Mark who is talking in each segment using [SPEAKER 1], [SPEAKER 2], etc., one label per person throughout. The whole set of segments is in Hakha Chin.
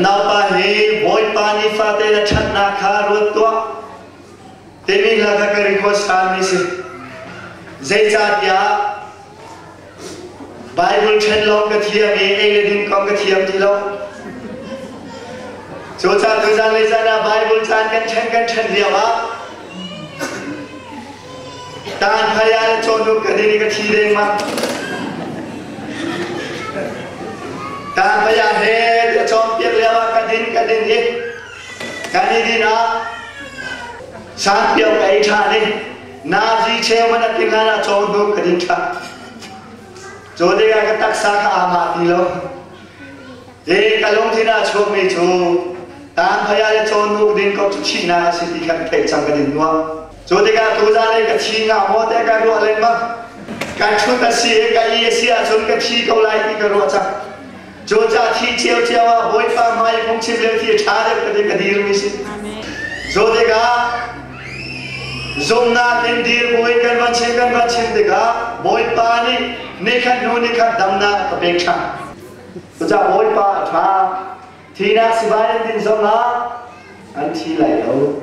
[SPEAKER 1] naupa hi bawipa nih fate na ṭhatnak kha ruat tuah timi hla kha ka record sa mi si zeicahtiah Bible ṭhen lawng ka thiam i ei le din kong ka thiam ti lo. Cu caan cu zanlei caan ah Bible caan kan ṭhen kan ṭhen lio ah taan hmaya le cawnuk ka din i ka thi dengmang. Taan hmaya he le cawnpiak lio ah ka din ka din i kan i din ah sanpiau ka ei ṭhan i Nazi chairman a ti ngan a caw hnu kan in thlah. Cu ding ah ka taksa ka ama ti lo. Hi ka lungthin a chuakmi cu tan phaya le caw nuk din ko cu chihna a si ti kha ka theih cang kan in nuah. Cu tikah tu zan i ka thi nga maw te ka ruah lengmang. Ka ṭhut a si i ka i a si ahcun ka thi ko lai ti ka ruah cang. Georgia thi cio cio ah Bawipa hmai phungchim le thi ṭha deuh ka ka dirmi si. Zawt ah zumnak in dirbuin kan van chim kan van chim tikah Bawipa nih nikhat hnu nikhat damnak ka pek ṭhan. Cucah Bawipa a ṭha. Thinak sibai in din zongah an thi lai lo.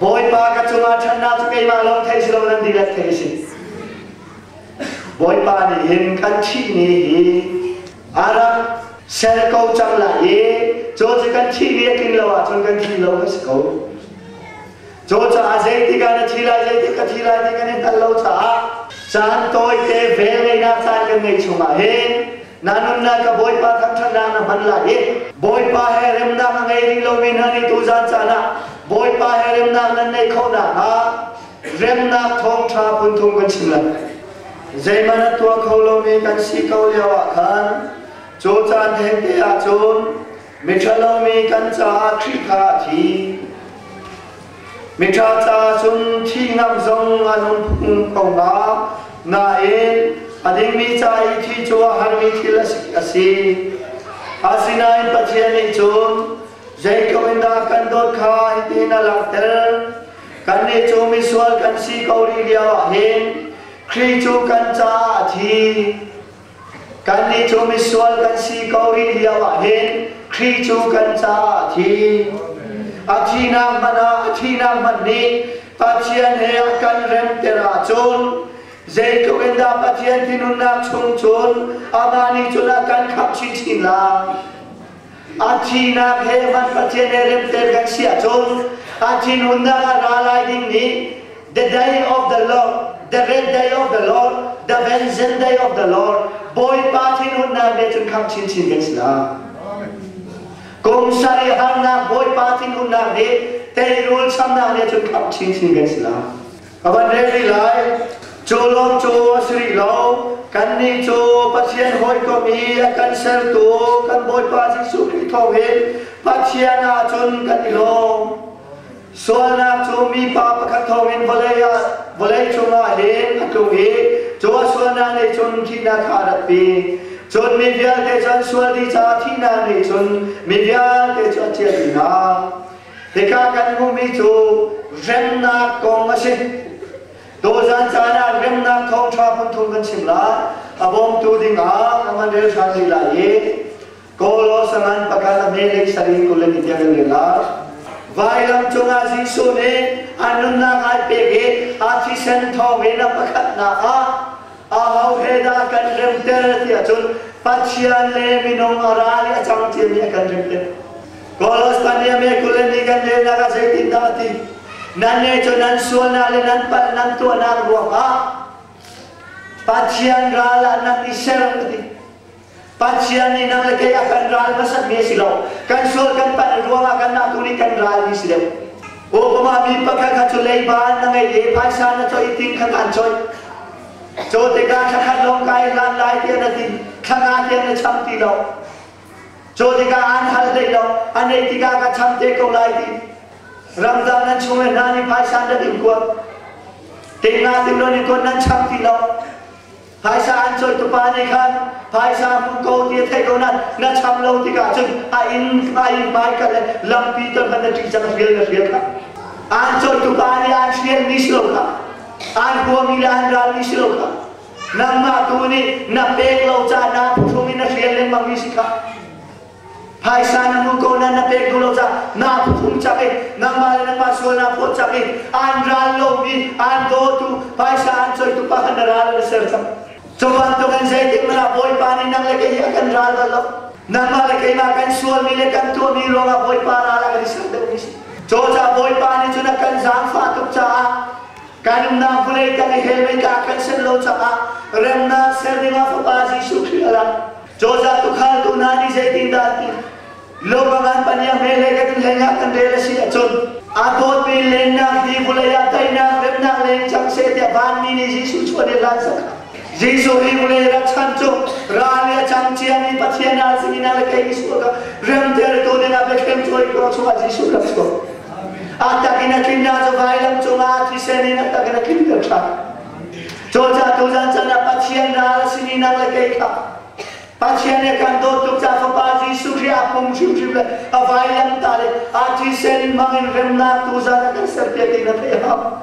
[SPEAKER 1] Bawipa ka cungah ṭhatnak cu keimah lawng theih si lo nan dihlak theih si. Bawipa nih hin kan thihni hi a rak sel ko cang lai i cu cu kan thihni a tlin lo ahcun kan thi lo ka si ko. Cucaah zeitik ah na thi lai, zeitik ka thi lai ti kan i hngal lo caah caan tawite vel ngeinak caan kan ngeih chungah hin na nunnak ka Bawipa thangṭhatnak na hman lai i Bawipa he remnak a ngei rih lomi hna nih tu zan caan ah Bawipa he remnak nan neih khawh nakhnga remnak thawngṭha phunthum kan chim lai zeihmanh a tuah kho lomi kan si ko lio ah khan cu caan hente ahcun miṭhalo mi kan caah Khrih kha a thi Miṭha tla cun thi ngam zong an um ko hnga. Nain a dingmi ca i thi cu a harmi thil a si. Asinain Pathian nih cun zeiko in dah kan dawt kha hitin a langhter. Kannih cu misual kan si ko rih lioah hin Khrih cu kan caah a thi. Kannih cu misual kan si ko rih lio ah hin Kri cu kan caah a thi. A thihnak hmanh ah a thihnak hmanh nih Pathian he a kan remter ahcun zeitluk in dah Pathian thinhunnak chung cun amah nih cun a kan khamh chinchin lai. a thihnak he van pathian he remter kan si ahcun a thinhunnak ah ra lai ding nih the day of the Lord the red day of the Lord the vengeance day of the Lord Bawipa thinhunnak nih cun khang chinchin kan si lai kum sari harnak Bawipa thinhunnak nih teirul chamnak nih cun kham chinchin kan si lai a van rel rih lai cu lawm cu a si rih lo kannih cu Pathian hawikom i a kan sertu kan Bawipa Jesuh Khrih thawng hin Pathian ahcun kan i lawm sualnak cu mi pa pakhat thawng in vawlei ah vawlei cungah hin a tlung i cu a sualnak nih cun thihnak kha a ratpi cun mi vialte cu an sual dih caah thihnak nih cun mi vialte cu a chiah dih hna Hika kan hmuhmi cu remnak kong a si. Dawzan caan ah remnak thawngṭha phunthum kan chim lai. A bawmtu dingah ka van rel ṭhan rih lai i Kawlaw sangan pakhat a melei sarin kul in tiang in rel lai. Vailam cungah Jesuh nih an nunnak ai pek i a thisen thawngin a pakhatnak ah aho he dah kan remter ti ahcun Pathian le minung a ra i a cang ṭiami a kan remter. Kolospania me kuleni kan le nak a zeitin dah ti nan ne cu nan sualna le nan pal nan tuahnak ruangah Pathian ral ah nan i serang uti Pathian nih nang le kei a kan ral hmasat mi si lo kan sual kan pal ruangah kan nak tu nih kan ral mi si deuh Obama mi pakhat kha cu leiba na ngei te phaisa na choi ting kha kan choi Cho te ka thakhat long kai hlan lai tian a ti thanga tian a cham ti lo Cu tikah an hal te ko, an ei tikah ka cham te ko lai ti. Ramzang nan chung le hna nih phaisa an rat in kuat. Tinga ding lo nih kuat nan cham ti lo. Phaisa an cawi tupa nih khan phaisa hmu ko ti a thei ko nan na cham lo tikah cun a in a in pai ka le lampi te hman na ṭih cang hrial na hrial ka an cawi tupa nih an hrial mi si lo ka an hua mi le an ral mi si lo ka Nangmah tu nih na pek lo caan ah phuhrung in na hrial lengmang mi si kha phaisa na hmu ko na na pek duh lo ca na phuhrung chak i nangmah le nangmah sual na phawt chak i an ral lomi an dawtu phaisa an coitu pa kha na ral na ser chak Cuban tu kan zeitik mana bawipa nih nang le kei hi a kan ral bal lo nangmah le keimah kan sualmi le kan tuahmi ruangah bawipa ral a kan i ser deuh mi si Coca bawipa nih cun a kan zaangfah tuk caah kan umnak vawlei tang i he meika kan sen lo cangah remnak ser dingah fapa Jesuh Khrih ala cawzah tukhal tu na nih zeitin dah ti lo bangan pania me le kan hlei nga kan rel asi acun a dawt pi lengnak hi vawlei ah teinak remnak leng cang se tiah van mi nih Jesuh chuan i lan saka Jesuh hi vawlei rat chan cu ral ya chang chia ni pathian al singina le ke Jesuh ka remter tu dingah bethlem chuai ko chungah Jesuh rak chuak a takin a tlinna cu vailam cungah thisen in a takin a tlinter ṭhan cawca tu zan chan ah pathian ral a sin i nang le kei kha pathian he khan dawt tuk ca fapa jesuh khrih a pum hrimhrim le a vailam ta le a thisen in hmangin remnak tu zan a kan serpiak ti na theih hau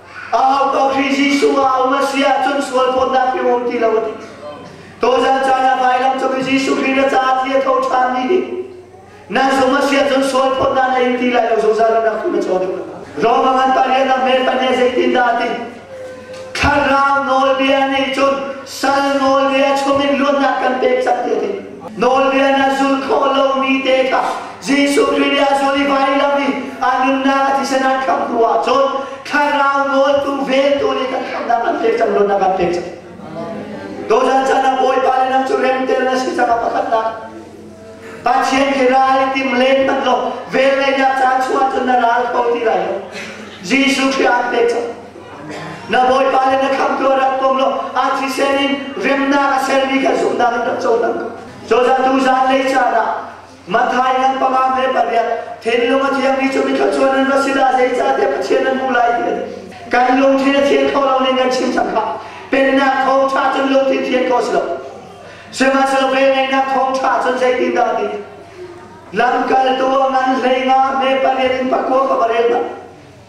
[SPEAKER 1] Ahau ka Khrih Jesuh a um a si ahcun sual phawtnak i um ti lo a ti. Tozan caan a vailam cung i Jesuh Khrih na caah thi a tho ṭhan ni hi nan sung a siah cun sual phawtnak na in ti lai lo zungzal na khi ma caw deuh Rome a ngan parian na hmel pania zeitin dah ti thlarau nawlbia nih cun sal nawlbia chungin luatnak kan pek cang ti a ti Nawlbia na zulh khawh lomi te kha Jesuh Khrih nih a zul i vailam i a nunnak a thisen an khamh hnu ahcun thlarau nawltu veltu nih kan khamhnak an pek cang luatnak an pek cang. Tuzan chan ah Bawipa le nang cu remte na si cang a pakhatnak. Pathian khi ral i tim len hmanh law vel ngaihnak caan chuah cun na ral kho ti lai lo. Jesuh Khrih an pek cang. na bawipa le na khamtu ah rak kom law a thisen in remnak a sermi kha zumhnak in rak cohlang cozah tu zanlei caan ah Mathai ngan panga me pariat thinlung a thiangmi cu mi thluachuan an va si dah zeicahtiah Pathian an hmuh lai ti ani kan lungthin a thian kho lo ning kan chim cangka pennak thawngtha cun lungthin thian kho si lo sihmanhsehlaw ngeihnak thawngtha cun zeitin dah ti lamkaltu a ngan hlei nga me pariat in pakua ka va rel na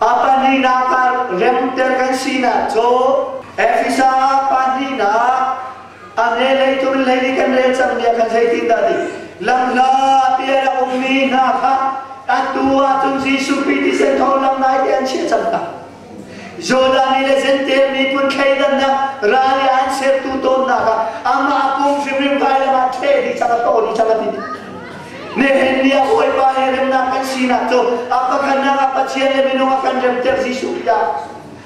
[SPEAKER 1] Pahnihnak ah remter kan sinak cu Efesa pahnihnak a ne lei tu lei nih kan rel cang bia khan zeitin dah dik lamhla bia rak ummi hna kha atu ahcun Jesuh Khrih thisen thawhlam nai te an chiah cang hna Jordan i le Zentail miphun thleidannak ral i an sertu tawn hna kha amah a pum hrimhrim vai lawngah ṭheh dih cang a to dih cang a ti Nehemiah bawipa he remnak kan sinak cu a pakhatnak ah Pathian le minung a kan remter Jesuh bia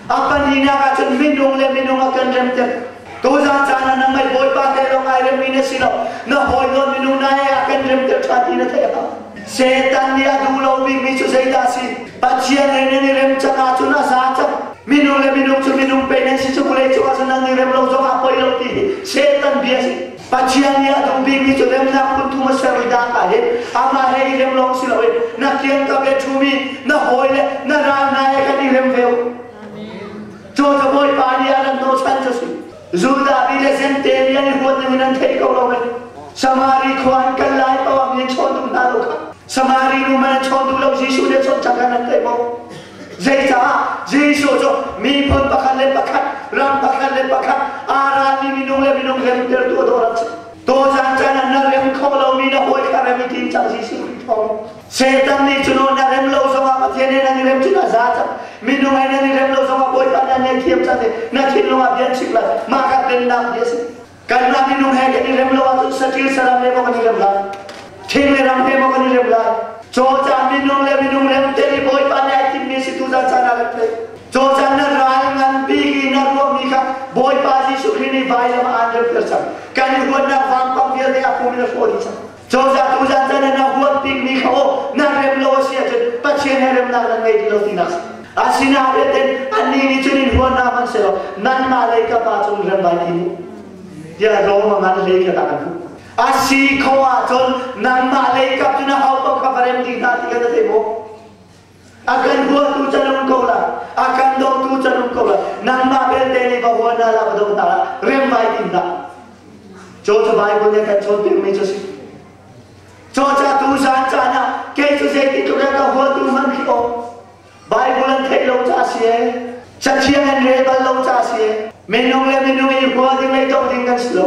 [SPEAKER 1] a pahnihnak ah cun minung le minung a kan remter tuzan caan ah nang mei bawipa te lawng ai remmi na si lo na hawi nawn minung na he a kan remter ṭhan ti na theih ha Satan nih a duh lo bikmi cu zeidah a si Pathian ei nan i rem cang ahcun a za cang minung le minung cu minung pei nan si cu vawlei cungah cun nan i rem lo zongah poi lo ti hi Satan bia si Pathian nih a duh bikmi cu remnak phun thum a sermi data hi amah he i rem lawng si lo in na fian tak i ṭhum i na hawi le na ral hna he kan i rem ve u. Cu cabawipa nih a ran hnochan cu si. Judah mi le Jente mi an i huat ning in an thei ko lo mai. Samari khua an kal lai ko ah mi an chawn duh hna lo kha. Samari nu man an chawn duh lo Jesuh nih a chawn cang kha nan theih maw? Zeicah Jesuh cu miphun pakhat le pakhat, ram pakhat le pakhat aa ralmi minung le minung he umtertu a dawh rak si. Tawzan caan ah na rem kho lomi na hawi kha rem i tim cang Jesuh Khrih thawng. Satan nih cun na rem lo zongah Pathian he nan i rem cun a za cang. Minung he nan i rem lo zongah Bawipa nan ngei thiam cang i na thinlung ah bia chim lai. Mah kha dennak bia a si. kan ram minung he kan i rem lo ahcun sathil saram he maw kan i rem lai thing le ram he maw kan i rem lai cawcang minung le minung rem te i bawipa nih ai timmi si tu zan caan ah kan theih cawcang na ral ngan biki na ruahmi kha bawipa jesuh khrih nih vailam ah an remter cang kan i huatnak vangpang vialte a pum in a hrawh dih cang Cozah tu zan zan in a huat bikmi kha aw na rem lo a si ahcun Pathian he remnak nan ngei ti lo tinak a si. Asinain in annih nih cun in huat hna hmanhsehlaw nanmah lei ka pa cung rem vai ti mu. Tiah Rom a ngan hlei kha tah kan hmuh. A si kho ahcun nanmah lei kap cu na ho bang kha va rem dih hna ti kha na thei maw? A kan huatu canum ko la, a kan dotu canum ko la, nangmah belte nih va hua hna la va do ta la, riangvai din la. Cho cu Bible nih kan chawnpiak mi cu si. Chocha tu zan caan ah, kei cu zeitin tluk ka huatu hman khi o. Bible an thei lo ca si e. Cathiang an rel bal lo ca si e. Minung le minung i hua ding le dong ding kan si lo.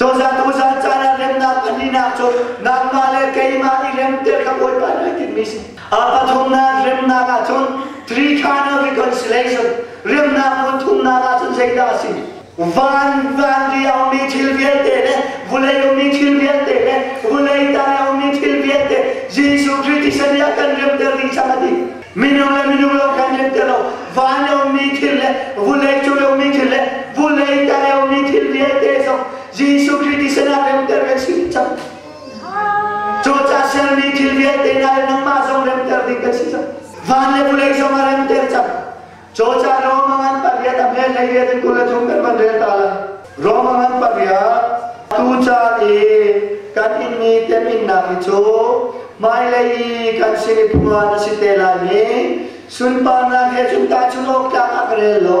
[SPEAKER 1] Cozah tuzan caan ah remnak an ninak cu nangmah le keimah i rem te ka bawipa ni tinmi si. A pathumnak remnak ahcun three kind of reconciliation remnak hmun thumnak ahcun zeidah a si? Van vanri a ummi thil vialte le vulei ummi thil vialte le vulei tai a ummi thil vialte Jesuh Khrist i sani a kan remter ding chang a ti. Minung le minung lo kan in te lo vanyo mi thil le vulei culio mi thil le vulei tayo mi thil vialte zong Jesuh Khrist i sinah remter ve si cang cu ca sial mi thil vialte hna le nangmah zong remter ding kan si cang van le vulei zong a remter cang Chocha Rome ngan paria tam he lei riat in kula chung kan van rel ta lai. Rome ngan paria tu ca i kan in mi tem innak hi cu hmailei i kan sin i phunga na si te lai mi sunparnak he cung ta chung awk tlak a ka rel lo.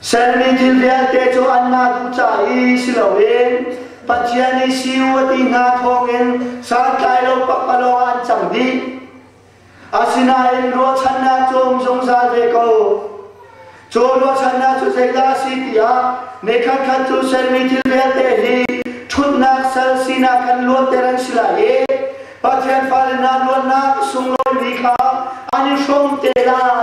[SPEAKER 1] Ser mi thil vialte cu an ngah duh ca i si loin Pathian i siu a ti hna thawngin santlai lo pakpalawng ah an cang dih. Asinain ruahchannak cung zungzal ve ko. Cu ruahchannak cu zeidah a si tiah mi khatkhat cu sermi thil vialte hi ṭhutnak sal sinak kan luatter an si lai i Pathian fale hna luatnak a sunglawimi kha an i hrawm te lai.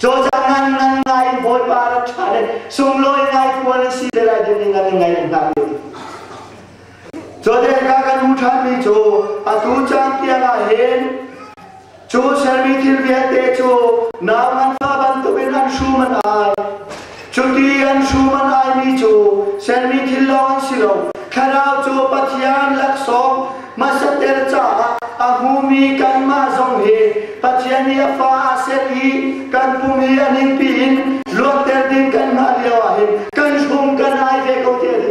[SPEAKER 1] Cawcang ngan ngan ngai Bawipa rak ṭha le sunglawi ngai puan a si te lai ti ning an ngai hna ti. Cawdek ka kan hmu ṭhanmi cu atu cang tiang ah hin cu sermi thil vialte cu nau nganfa bantukin an hrum an ai. Cuti an hruman aimi cu sermi thil lawng an si lo. Thlarau cu Pathian laksawng masater caah a hmumi kanmah zong hi Pathian nih a fa a set i kan pum i a ningpi in luatter ding kanmah lio ah hin kan hrum kan ai ve ko te a ti.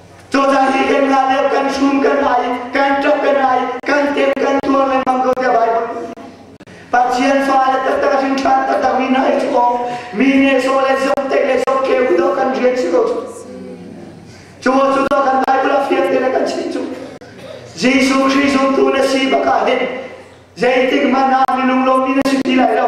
[SPEAKER 1] Cozah hi kan la deuh, kan sum kan hai, kan ṭap kan hai, kan tem kan tuar lengmang ko tiah Baibal. Pathian fa le taktak hrin ṭhan taktak mi nai cu awk mi ne so le zong te le zong ke u do kan rian si ko. Cu cu do kan Baibal a fiang te le kan chim cu. Jesuh Khrist zumtu na si baka hin zeitik hmanh ah minung lo mi na si ti lai lo.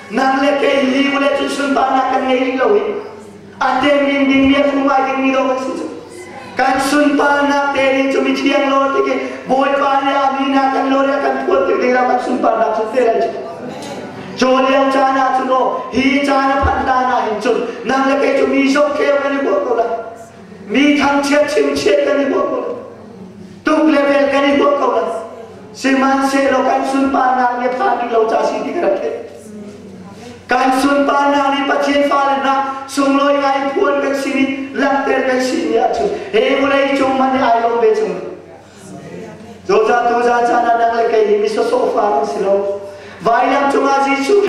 [SPEAKER 1] nang le kei li vale cun sunparnak kan ngei rih lo i a temin dingmi a fum ai dingmi lo kan si cu kan sunparnak te ding cu mi thiang lo ti ki bawipa le a mi na kan lo le kan phuan tik ding la kan sunparnak cu te lai cu cu liang caan ah cun o hi caan a phan ta na hin cun nang le kei cu mi sok kheu kan i kuat ko lai mi thangchiat chingchiat kan i huah ko tuk le vel kan i huah ko lo sihmanhsehlaw kan sunparnak nih phan rih lo ca si ti ka rak theih kan sunparnak nih pathian fale hna sunglawi ngai phuan kan sin i langhter kan sin ni ahcun he vawlei cung man i ai lawm ve chung Zoza tu za chan ah nang le kei hi mi sawsawh fa an si lo. Vailam cungah Jesuh